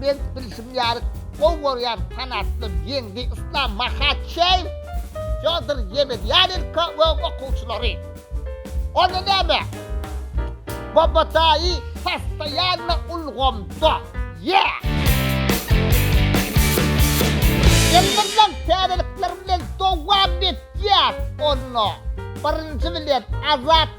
Men bilşim ýarik gowy görýän fanatlym Ýeňdi Yslam Mahaçeýew, Fýodor Ýemedýanenko we okuwçylary. Onda näme? Bobodaýy postoýanno ulgamda. Ýe! Elmydam täzelikler bilen dowam etýär. Onda birinji bilen Azat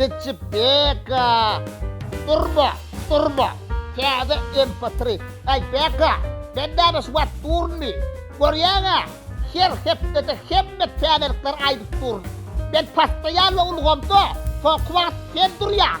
Dicci Beka! Durma! Durma! Täze MP3! Aý, Beka, men näme şu wagt durunmy? Görýäň-ä, her hepdede hemme täzelikleri aýdyp durun. Men postoýalny ulgamda, soňky wagt sen durýaň.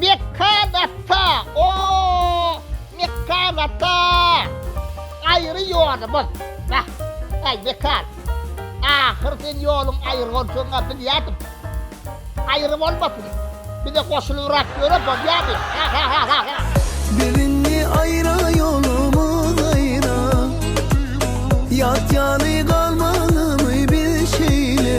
Mekan ata, o, Mekan ata, aýry ýolumyz, bah, äý, Mekan, ahyr sen ýoluň aýry boljagyny-a bilýärdim. Aýry bolmasyn, bize goşulybrak ýöre bolýardy, ha-ha-ha-ha-ha! Biz indi aýra ýolumyz aýra, ýat ýaly galmalymy biz şeýle?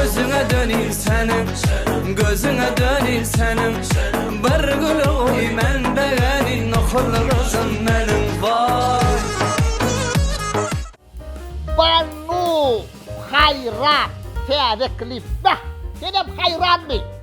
Özüňe döneýin seniň Gözüňe döneýin seniň Bir güle goý men begeni Nohurly gyzym meniň Woy Banu Haýrat täze klip Bäh senem haýranmy.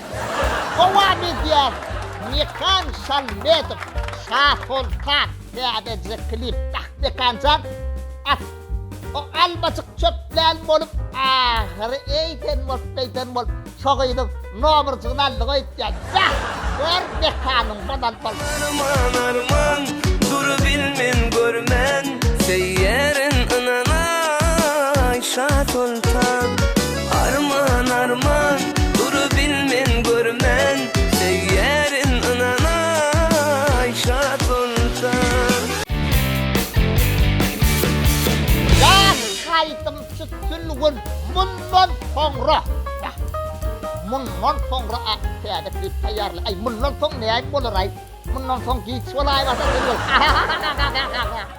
Dowam edýär Mekan Şalmedow Şasoltan täzeje klip Ach Mekanjan at o almajyk çöpleýin bolup ahyry eýden bolup beýden bolup şo gyzyň nomerjygyny aldy goýupdyr beh gör Mekanyň bolan bol. Arman arman durup bilmen görmen seýerin ynanaý Şasoltan. Arman arman durup bilmen görmen söýýärin ynanaý şat bolsan. Ýaş haýdym tütün gün mundan soňra da mundan soňra a täze klip taýýarla aý mundan soň näme bolaraý mundan soň giç bolaýmasyn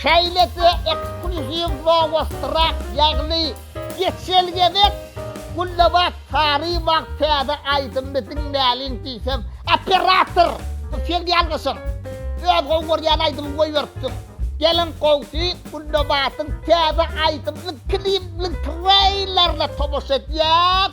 Şeýle-de ekskluziw Nowostrad, ýagny geçel gezek Gülnabat Saryýewa täze aýdymyny diňläliň diýsem, Operator, bu sen ýalňyşyň. Öz gowy görýän aýdymyňy goýberipsiň. Geliň gowsy, Gülnabatyň täze aýdymynyň klibiniň treýlerine tomaşa edýäs.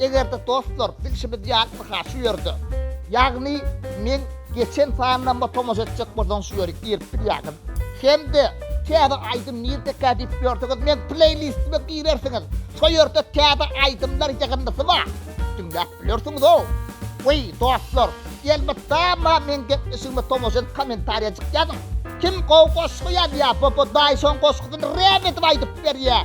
Egerde dostlar bilşimiz ýalyha şu ýerde ýagny men geçen sanlamda tomaşa etjek bolsaňyz şu ýeri girip bilýäňiz. Hemde täze aýdym nirdekä diýip ýörseňiz meň pleýlistime girersiňiz. Şo ýerde täze aýdymlar ýygyndysy bar. Diňläp bilersiňizow. Weý dostlar elbetda meň gepleşigime tomaşa edip kommentariýajyk ýazyň. Kim gowy goşgy ýazýar bu bu daýyşyň goşgusyny rap edip aýdyp berýär.